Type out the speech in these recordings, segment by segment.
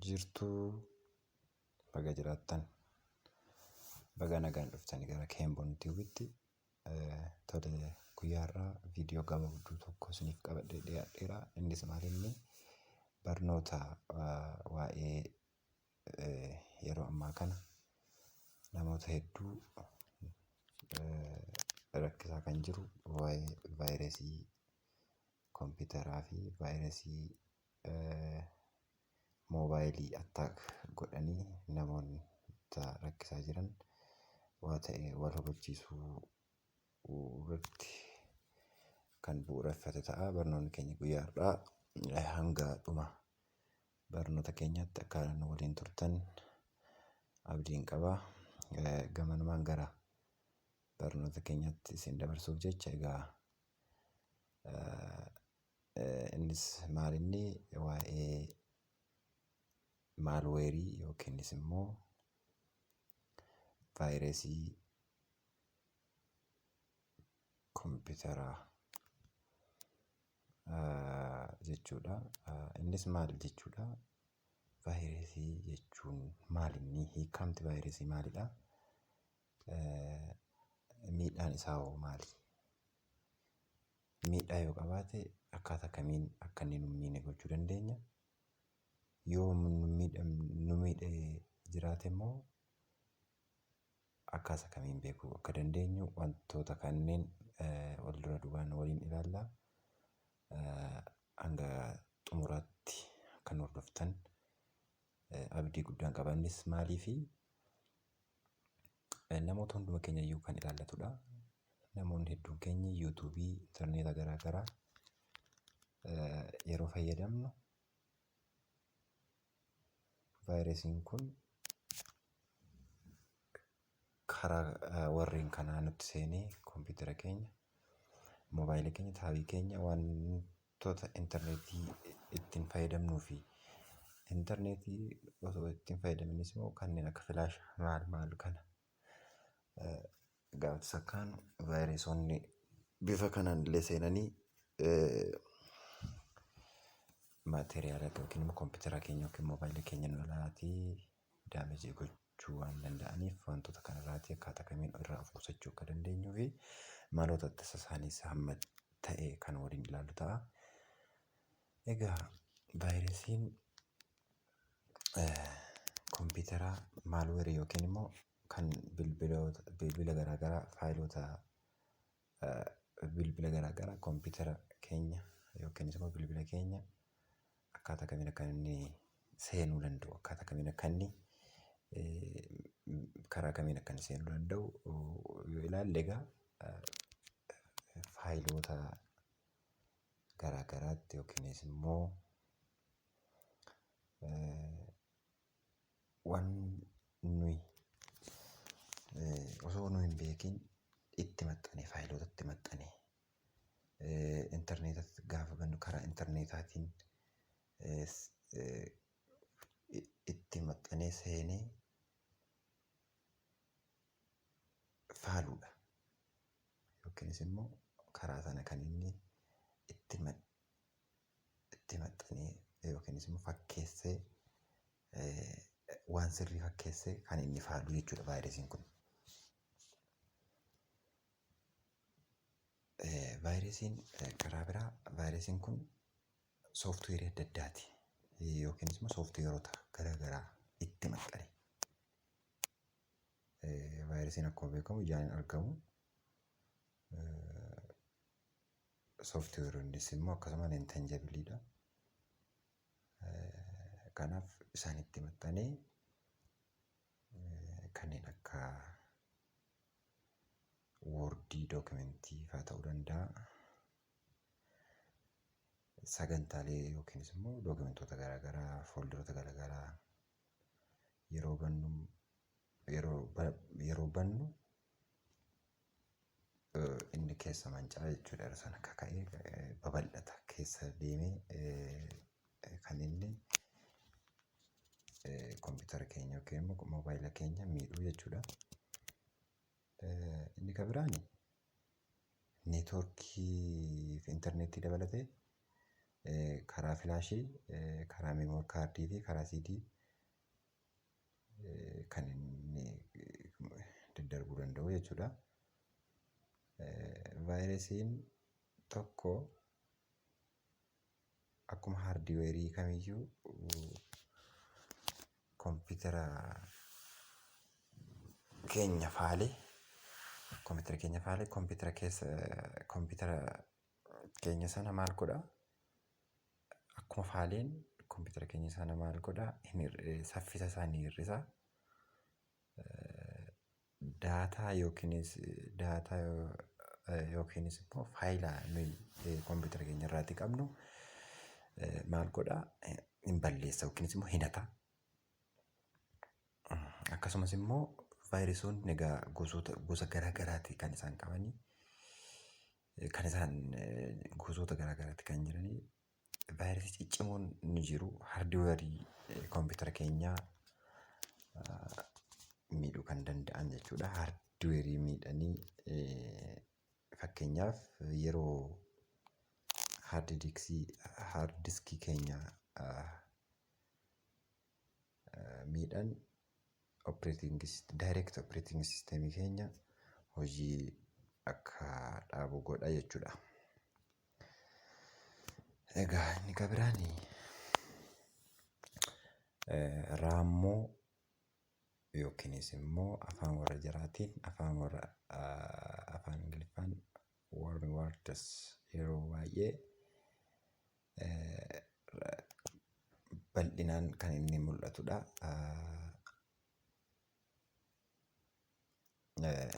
jirtuu baga jiraattan baga nagaan dhuftanii gara keemboon tiiwitti tole guyyaa irraa viidiyoo gabaabduu tokko isiniif qabadhee dhiyaadheera innis maalinni barnoota waa'ee yeroo ammaa kana namoota hedduu rakkisaa kan jiru waa'ee vaayirasii kompiitaraa fi vaayirasii moobaayilii attack godhanii namoonni rakkisaa jiran waa ta'e wal hubachiisuu irratti kan bu'uureffate ta'a. Barnoonni keenya guyyaa har'aa hanga dhuma Barnoota keenyatti akka nu waliin turtan abdiin qaba. Gamanumaan gara barnoota keenyatti isin dabarsuuf jecha egaa innis maalinni waa'ee maalweerii yookiinis immoo vaayirasii kompiitaraa jechuudha. Innis maal jechuudha? Vaayirasii jechuun maal inni? Hiikamti vaayirasii maalidha? Miidhaan isaa hoo maali? Miidhaa yoo qabaate akkaataa kamiin akka inni nu hin miine gochuu dandeenya? Yoo nu miidhe jiraate immoo Akkaasa kamiin beekuu akka dandeenyu wantoota kanneen wal dura duubaan waliin ilaalla. Hanga xumuraatti akka nu hordoftan abdii guddaan qaba. Innis maaliifi? Namoota hunduma keenya iyyuu kan ilaallatudha. Namoonni hedduun keenya yuutuubii, intarneeta garaa garaa yeroo fayyadamnu vaayirasiin kun karaa warreen kanaa nutti seenee kompiitara keenya moobaayila keenya taabii keenya wantoota intarneetii ittiin fayyadamnuu fi intarneetii osoo ittiin fayyadaminis immoo kanneen akka filaashaa maal maal kana Gaafati sakkaan vaayirasonni bifa kanaan illee seenanii maateriyaala yookiin immoo kompiitara keenya yookiin moobaayila keenya nu lalaatii daamejii gochuu waan danda'aniif wantoota kanarraatii akkaataa kamiin irraa of qusachuu akka dandeenyuu fi maloota ittisa isaaniis hamma ta'e kan waliin ilaallu ta'a. Egaa vaayirasiin kompiitaraa maalweerii yookiin immoo kan bilbiloota bilbila garaa garaa faayiloota bilbila garaa garaa kompiitara keenya yookiinis immoo bilbila keenya akkaataa kamiin akka inni seenuu danda'u akkaataa kamiin akka inni karaa kamiin akka inni seenuu danda'u yoo ilaalle egaa faayiloota garaagaraatti yookiinis immoo waan nuyi osoo nu hin beekin itti maxxanee faayiloota itti maxxanee intarneetatti gaafa bannu karaa intarneetaatiin itti maxxanee seenee faaluudha. Yookiinis immoo karaa sana kan inni itti itti maxxanee yookiinis immoo fakkeessee waan sirrii fakkeessee kan inni faalu jechuudha vaayirasiin kun. Vaayirasiin karaa biraa vaayirasiin kun sooftiweerii adda addaati yookiinis immoo sooftiweerota garaagaraa itti maxxanee Vaayirasiin akkuma beekamu ijaan hin argamu. Sooftiweeroonnis immoo akkasuma hin tanjabiliidha. Kanaaf isaanitti maxxanee kanneen akka woordii dookimentii faa ta'uu danda'a. Sagantaalee yookiinis immoo dookimentoota garaagaraa fooldaroota garaagaraa yeroo bannu yeroo ba- yeroo bannu eh, inni keessa manca'a jechuudha yeroo sana akka ka'e eh, babal'ata keessa deemee eh, eh, kan inni eh, kompiitara keenya yookiin immoo moobaayila keenya miidhuu jechuudha. Inni kan biraan neetwoorkii fi intarneetii dabalatee karaa filaashii, karaa meemoor kaardii fi karaa siidii kan inni daddarbuu danda'u jechuudha. Vaayirasiin tokko akkuma haardiweerii kamiyyuu kompiitara keenya faale kompiitara keenya faale kompiitara keessa kompiitara keenya sana maal godha akkuma faaleen kompiitara keenya sana maal godha hin hir'isa saffisa isaa ni hir'isa. Daataa yookiinis daataa yookiinis immoo faayila nuyi kompiitara keenya irraati qabnu maal godha hin balleessa yookiinis immoo hin hata. Akkasumas immoo vaayiresoonni egaa gosoota gosa garaa garaati kan isaan qabanii. Kan isaan gosoota garaa garaati kan jiranii. Vaayirasii ciccimoon ni jiru. Hardiweerii koompitara keenyaa miidhuu kan danda'an jechuudha. Hardiweerii miidhanii fakkeenyaaf yeroo haardidiiksii haardiskii keenya miidhan operating direct operating system keenya hojii akka dhaabu godha jechuudha. Egaa inni kan biraan raammoo yookiinis immoo afaan warra jaraatiin afaan warra afaan ingiliffaan warm words yeroo baay'ee bal'inaan kan inni mul'atudha.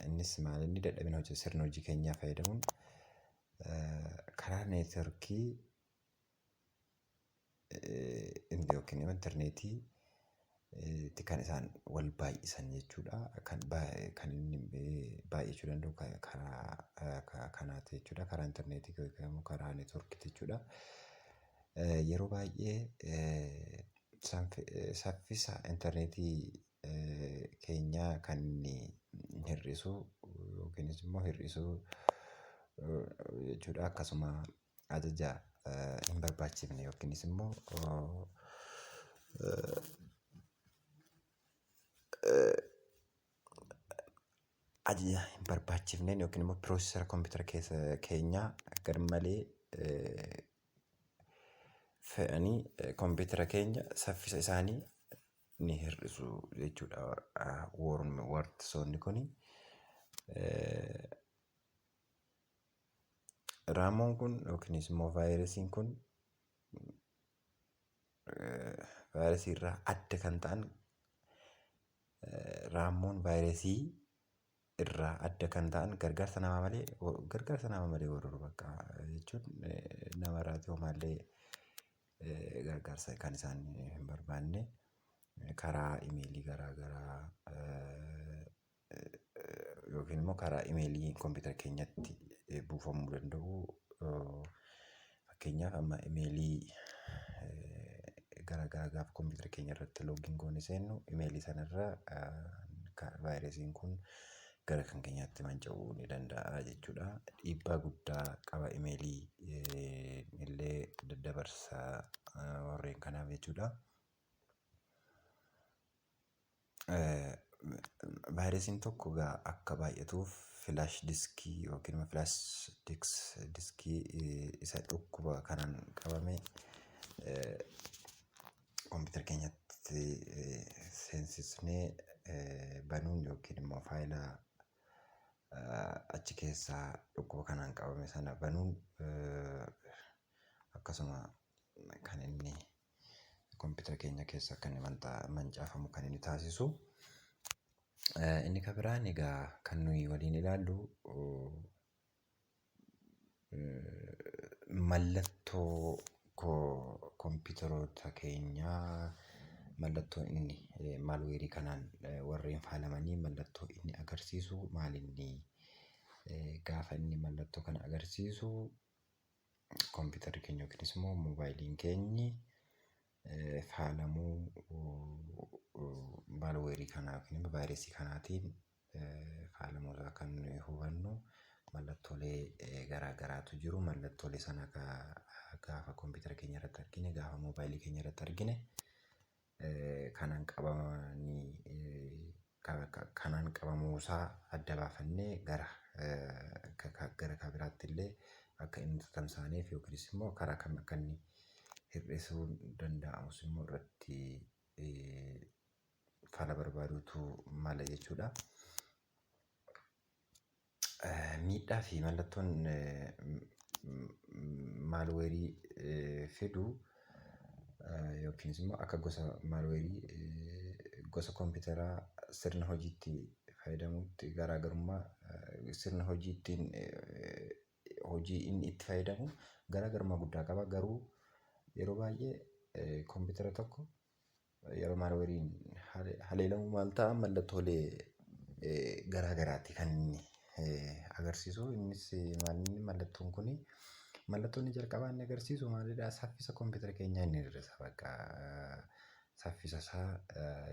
Innis maal inni dadhabina hojii sirna hojii keenyaa fayyadamuun karaa neetworkii yookiin immoo intarneetii tti kan isaan wal baay'isan jechuudha. Kan kan inni baay'achuu danda'u karaa kanaati jechuudha. Karaa interneetii yookiin immoo karaa networkii jechuudha. Yeroo baay'ee saffisa interneetii keenyaa kan inni hir'isu yookiinis immoo hir'isuu jechuudha. Akkasuma. ajaja hin barbaachifne yookiinis immoo ajaja hin barbaachifneen yookiin immoo piroosesara kompiitara keessa keenyaa garmalee fe'anii kompiitara keenya saffisa isaanii ni hir'isu jechuudha. Wartisoonni kuni Raamoon kun yookiinis immoo vaayirasiin kun vaayirasii irraa adda kan ta'an raammoon vaayirasii irraa adda kan ta'an gargaarsa namaa malee gargaarsa namaa malee warra bakka jechuun nama irraati homaallee gargaarsa kan isaan hin barbaanne karaa imeelii garaa garaa yookiin immoo karaa imeelii kompiitara keenyatti buufamuu danda'u. Fakkeenyaaf amma imeelii gara garaa gaafa kompiitara keenya irratti loogiin goonee seennu imeelii sana irra vaayirasiin kun gara kan keenyaatti manca'uu ni danda'a jechuudha. Dhiibbaa guddaa qaba imeelii illee daddabarsa warreen kanaaf jechuudha. Vaayirasiin tokko egaa akka baay'atuuf filaash diskii yookiin immoo filaash diskii isa dhukkuba kanaan qabame kompiitara keenyatti seensisnee banuun yookiin immoo faayila achi keessaa dhukkuba kanaan qabame sana banuun akkasuma kan inni. Kompitara keenya keessa akka inni mancaafamu kan inni taasisu. Inni kan biraan egaa kan nuyi waliin ilaallu mallattoo kompitaroota keenyaa mallattoo inni malweerii kanaan warreen faalamanii mallattoo inni agarsiisu maal inni gaafa inni mallattoo kana agarsiisu kompiitarri keenya yookiinis immoo moobaayiliin keenyi faalamuu maalweerii kanaa yookiin immoo vaayirasii kanaatiin faalamuu irraa kan nuyi hubannu mallattoolee garaa garaatu jiru. Mallattoolee sana gaafa kompiitara keenya irratti argine, gaafa moobaayilii keenya irratti argine kanaan qabamanii kanaan qabamuu isaa adda baafannee gara gara kan biraatti illee akka inni tatamsaaneef yookiinis immoo karaa kam akka inni hir'isuun danda'amus immoo irratti fala barbaaduutu mala jechuudha. Miidhaa fi mallattoon malware fidu yookiin immoo akka gosa malware gosa kompitara sirna hojiitti fayyadamuutti garaagarummaa sirna hojii ittiin hojii inni itti fayyadamu garaagarummaa guddaa qaba. Garuu yeroo baay'ee kompitara tokko yeroo maalweeriin haleelamu maal ta'a mallattoolee garaa garaatti kan inni agarsiisu innis maalinni mallattoon kun mallattoon inni jalqabaa inni agarsiisu maalidha saffisa kompiitara keenyaa inni hir'isa bakka saffisa isaa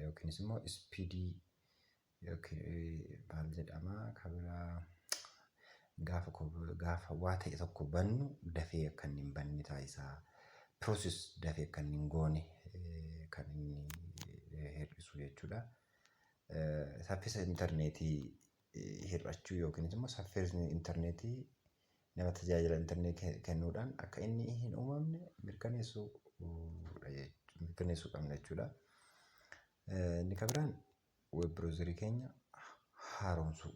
yookiinis immoo ispiidii Yookiin maal jedhama kan biraa gaafa ko- gaafa waa ta'e tokko bannu dafee akka inni hin banne taasisaa. Process dafee akka inni hin goone eh, kan inni eh, hir'isu jechuudha. Eh, Saffisa intarneetii eh, hir'achuu yookiinis immoo saffisni intarneetii nama tajaajila intarneetii kennuudhaan akka inni hin uumamne mirkaneessuu uh, dha jech- mirkaneessuu qabna jechuudha. Eh, Inni kan biraan web browserii keenya haaromsuu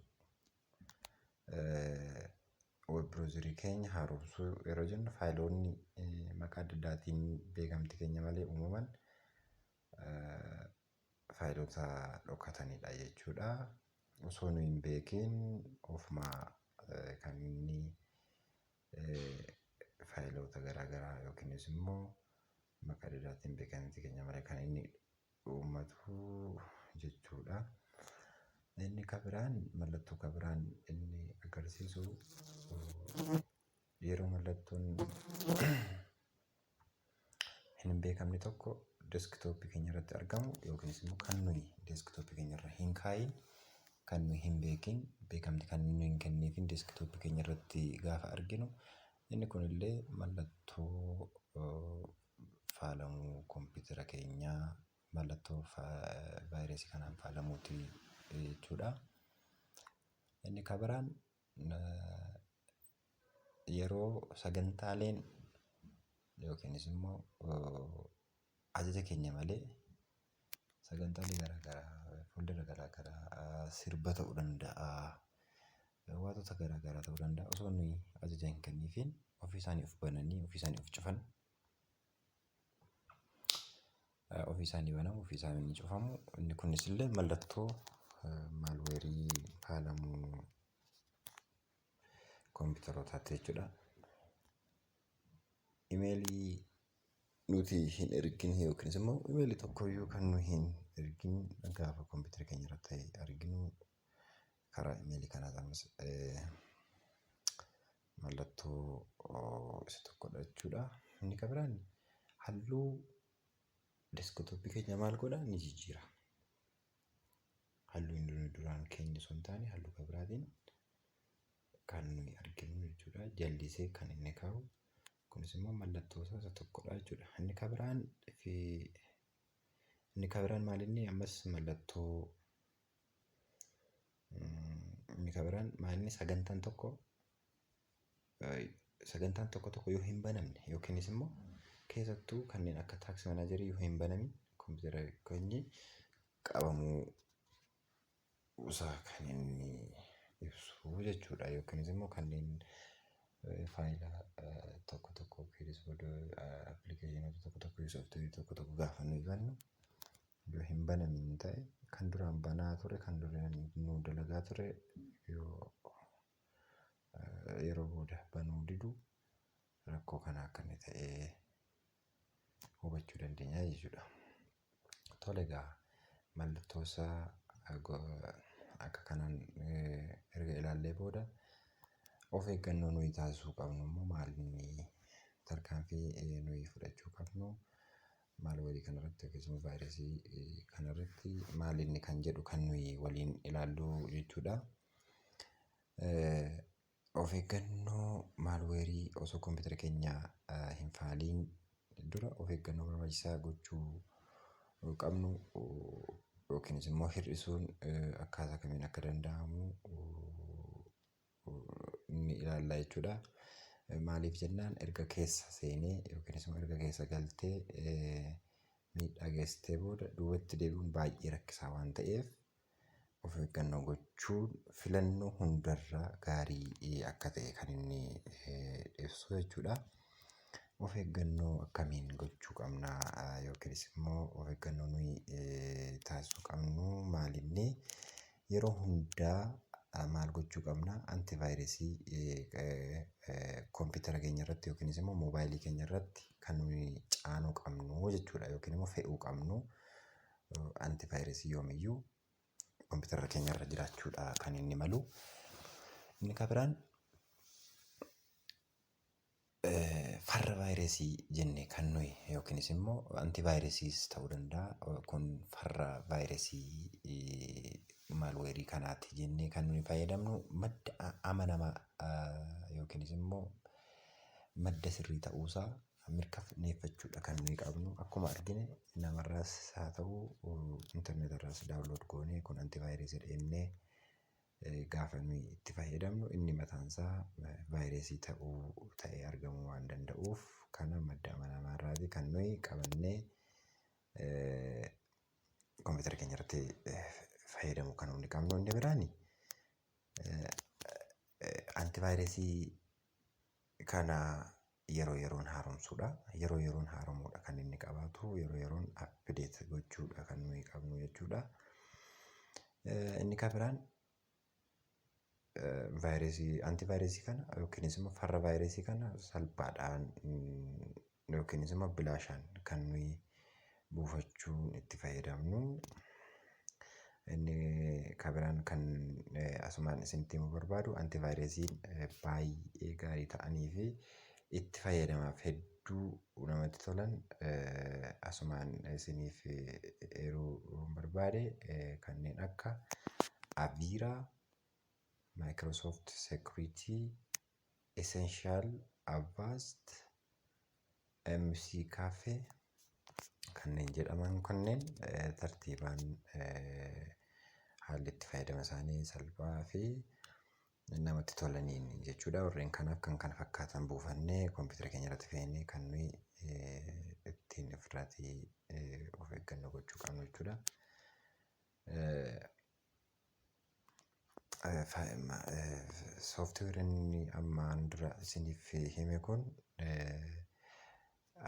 web browserii keenya haaromsuu yeroo jennu faayiloonni maqaa adda addaatiin beekamtii keenya malee uumaman faayiloota dhokatanidha jechuudha. Osoo nu hin beekin ofuma kan inni faayiloota garaagaraa yookiinis immoo maqaa adda addaatiin beekamtii keenya malee kan inni uummatu jechuudha. Inni ka biraan mallattoo ka biraan inni agarsiisu yeroo mallattoon hin beekamne tokko deskitooppii keenya irratti argamu yookiinis immoo kan nuyi deskitooppii keenya irra hin kaa'iin kan nuyi hin beekin beekamti kan nuyi hin kenniifin deskitooppii keenya irratti gaafa arginu Inni kun illee mallattoo faalamuu kompiitara keenyaa mallattoo vaayirasii kanaan faalamuuti jechuudha. Inni kan biraan yeroo sagantaaleen yookiinis immoo Ajaja keenya malee sagantaalee garaa garaa fuuldura garaa garaa sirba ta'uu danda'a. Waantota garaa garaa ta'uu danda'a osoo nuyi ajaja hin kenniifiin ofii isaanii of bananii ofii isaanii of cufan. Ofii isaanii banamu ofii isaanii ni cufamu. Inni kunis illee mallattoo malware faalamuu. kompiitarootaatti jechuudha. Imeelii nuti hin ergin yookiinis immoo imeelii tokkoyyuu kan nu hin ergin gaafa kompiitara keenya irratti ta'e arginu karaa imeelii kanaa ta'us mallattoo isa tokkodha jechuudha. Inni kan biraan halluu deeskitooppii keenya maal godha ni jijjiira. halluu inni nuyi duraan keenya osoo hin taane halluu kan biraatiin kan nuyi arginu jechuudha. Jallisee kan inni kaa'u kunis immoo mallattoo isaa isa tokkodha jechuudha. Inni kan biraan fi inni kan biraan maal inni ammas mallattoo mm, inni kan biraan maal inni sagantaan tokko sagantaan tokko tokko yoo hin banamne yookiinis immoo keessattuu kanneen akka taaksii manaajarii yoo hin banamin kompiitara keenya qabamuu isaa kan inni ibsu jechuudha yookiinis immoo kanneen faayila tokko tokko yookiinis appilikeeshinoota tokko tokko yookiin sooftiweerii tokko tokko gaafa nuyi bannu yoo hin banamin ta'e kan duraan banaa ture kan duraan nu dalagaa ture yoo yeroo booda banuu didu rakkoo kana akka inni ta'ee hubachuu dandeenya jechuudha. Tole egaa mallattoo isaa akka kanaan erga ilaallee booda of eeggannoo nuyi taasisuu qabnu immoo maal inni tarkaanfii nuyi fudhachuu qabnu maal walii kanarratti yookiis immoo vaayirasii kanarratti maal inni kan jedhu kan nuyi waliin ilaallu jechuudha. Of eeggannoo maalweerii osoo kompiitara keenya hin faaliin dura of eeggannoo barbaachisaa gochuu qabnu yookiinis immoo hir'isuun akkaataa kamiin akka danda'amu ni ilaalla jechuudha. Maaliif jennaan erga keessa seenee yookiinis immoo erga keessa galtee miidhaa geessistee booda duubatti deebi'uun baay'ee rakkisaa waan ta'eef of eeggannoo gochuun filannoo hundarra gaarii akka ta'e kan inni ibsu jechuudha. Of eeggannoo akkamiin gochuu qabna yookiinis immoo of eeggannoo nuyi taasisuu qabnu maal inni? Yeroo hundaa maal gochuu qabna? Antivaayirasii kompiitara keenya irratti yookiinis immoo moobaayilii keenya irratti kan nuyi caanuu qabnu jechuudha yookiin immoo fe'uu qabnu. Antivaayirasii yoomiyyuu kompiitara keenya irra jiraachuudha kan inni malu. Inni kan biraan farra vaayirasii jennee kan nuyi yookiinis immoo antivaayirasiis ta'uu danda'a. Kun farra vaayirasii maalweerii kanaati jennee kan nuyi fayyadamnu madda amanamaa yookiinis immoo madda sirrii ta'uusaa mirkaneeffachuudha kan nuyi qabnu. Akkuma argine namarraas haa ta'u interneetarraas daawunlood goonee kun antivaayirasiidha jennee gaafa nuyi itti fayyadamnu inni mataansaa vaayirasii ta'uu ta'ee argamuu waan danda'uuf kana madda amanamaarraatii kan nuyi qabannee kompiitara keenyarratti fayyadamuu kan hundi qabnu. Inni biraani antivaayirasii kana yeroo yeroon haaromsuudha. Yeroo yeroon haaromuudha kan inni qabaatu. Yeroo yeroon update gochuudha kan nuyi qabnu jechuudha. Inni kan biraan vaayirasii antivaayirasii kana yookiinis immoo farra vaayirasii kana salphaadhaan yookiinis immoo bilaashaan kan nuyi buufachuun itti fayyadamnu. Inni kan biraan kan asumaan isinitti himuu barbaadu antivaayirasiin baay'ee gaarii ta'anii fi itti fayyadamaaf hedduu namatti tolan asumaan isiniif eeruun barbaade kanneen akka Aviiraa, Microsoft Security, Essential Avast, MC Cafe kanneen jedhaman kunneen eh, tartiibaan eh, haalli itti fayyadama isaanii salphaa fi namatti tolaniin jechuudha. Warreen kanaaf kan kana fakkaatan buufannee kompiitara keenya irratti fe'inee kan nuyi eh, ittiin ofirraatii eh, of eeggannoo gochuu qabnu jechuudha. Eh, Sooftiweerin inni ammaan dura isiniif hime kun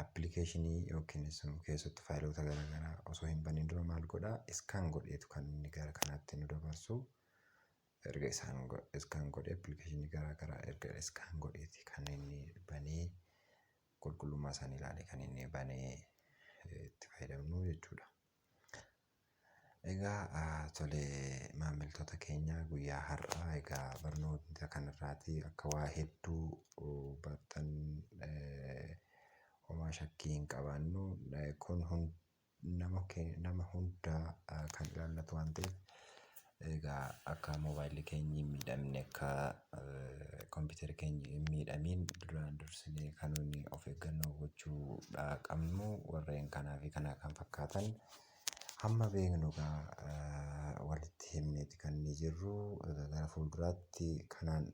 appilikeeshinii yookiin immoo keessattuu faayiloota gara garaa osoo hin baniin dura maal godha? Iskaan godheetu kan inni gara kanaatti nu dabarsu. Erga isaan iskaan godhee appilikeeshinii gara garaa erga iskaan godheeti kan inni banee qulqullummaa isaanii ilaalee kan inni banee itti fayyadamnu jechuudha. Egaa tole maamiltoota keenya guyyaa har'aa egaa barnoota kanarraatii akka waa hedduu barattan homaa shakkii hin qabaannu. Kun nama hundaa kan ilaallatu waan ta'eef. Egaa akka mobaayilli keenyi hin miidhamne akka kompiitarri keenyi hin miidhamiin duraan dursinee kan nuti of eeggannoo gochuudha qabnu warreen kanaa fi kana kan fakkaatan hamma beeknu egaa walitti himneeti kan inni jirru. Egaa gara fuulduraatti kanaan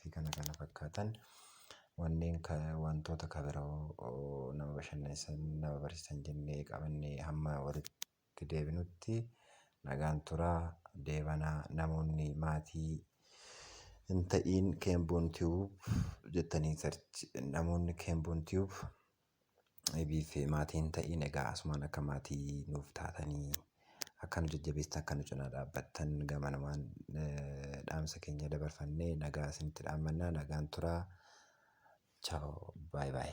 fi kana kana fakkaatan wanneen wantoota kabiroo nama bashannansiisan nama barsiisan jennee qabannee hamma walitti. itti deebinutti nagaan turaa deebana namoonni maatii hin ta'iin kenbon tube jettanii search namoonni kenbon tube ebiif maatii hin ta'iin egaa asumaan akka maatii nuuf taatanii akka nu jajjabeestan akka nu cinaa dhaabbattan gamanumaan dhaamsa keenya dabarfannee nagaa isinitti dhaammannaa nagaan turaa chaaw baay baay.